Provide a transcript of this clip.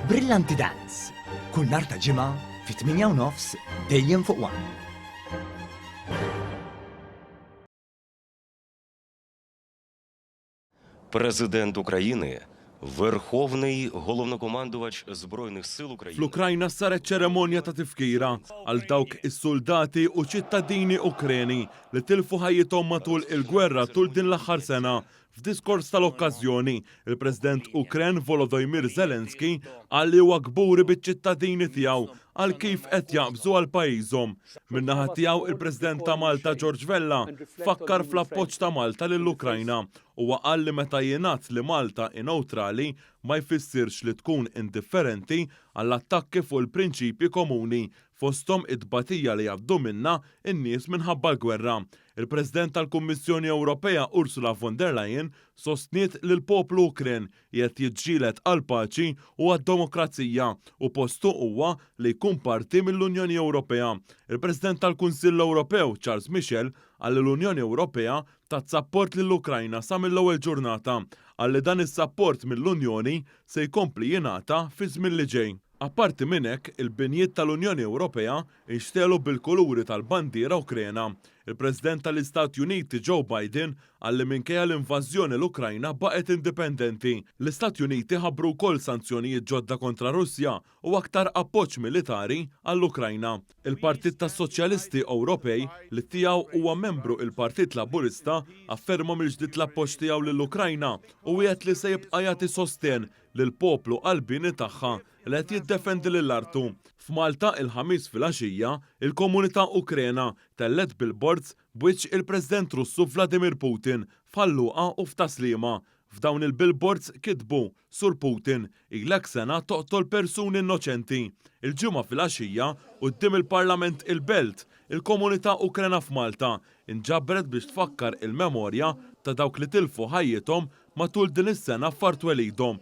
Brillanti Dance, kull nhar ta' ġimgħa fit-8 u nofs dejjem fuq One. President Ukrajini, Verħovnyj Golovnokomanduvadx Zbrojnih Sil Ukrajini. Fl-Ukrajna saret ċeremonja ta' tifkira għal dawk is-suldati u ċittadini Ukreni li tilfu ħajjithom matul il-gwerra tul din l-aħħar sena F'diskors tal-okkażjoni, il-President Ukren Volodymyr Zelensky qal li huwa kburi biċ-ċittadini tiegħu għal kif qed jaqbżu għal pajjiżhom. Min-naħa tiegħu, il-President ta' Malta George Vella fakkar fl-appoġġ ta' Malta lill-Ukrajna. Huwa qal li meta jingħad li Malta hi newtrali ma jfissirx li tkun indifferenti għall-attakki fuq il-prinċipji komuni fosthom it-tbatija li jgħaddu minnha n-nies minħabba l-gwerra. Il-President tal-Kummissjoni Ewropea Ursula von der Leyen sostniet li l-poplu Ukren qiegħed jiġġieled għall-paċi u għad-demokrazija u postu huwa li jkun parti mill-Unjoni Ewropea. Il-President tal-Kunsill Ewropew Charles Michel qal li l-Unjoni Ewropea tat sapport lill-Ukrajna sa mill-ewwel ġurnata. Qal li dan is-sapport mill-Unjoni se jkompli jingħata fiż-żmien li ġej. Apparti minn hekk, il-binjiet tal-Unjoni Ewropea nxtegħlu bil-kuluri tal-bandiera Ukrena. Il-President tal-Istati Uniti Joe Biden qal li minkejja l-invażjoni l-Ukrajna baqgħet indipendenti. L-Istati Uniti ħabbru wkoll sanzjonijiet ġodda kontra Russja u aktar appoġġ militari għall-Ukrajna. Il-Partit tas-Soċjalisti Ewropej, li tiegħu huwa membru il-Partit Laburista, afferma mill-ġdid l-appoġġ tiegħu lill-Ukrajna u wiegħed li se jibqa' jagħti sostenn lill-poplu qalbieni tagħha li qed jiddefendi lil artu. F'Malta, il-Ħamis filgħaxija, il-komunità Ukrena tellgħet billboards b'wiċċ il-President Russu Vladimir Putin f'Ħal Luqa u f'Tas-Sliema. F'dawn il-billboards kitbu, Sur Putin, ilek sena toqtol persuni innoċenti. Il-Ġimgħa filgħaxija, quddiem il-Parlament il-Belt, il-komunità Ukrena f'Malta nġabret biex tfakkar il-memorja ta' dawk li tilfu ħajjithom Matul din is-sena f'Art Twelidhom.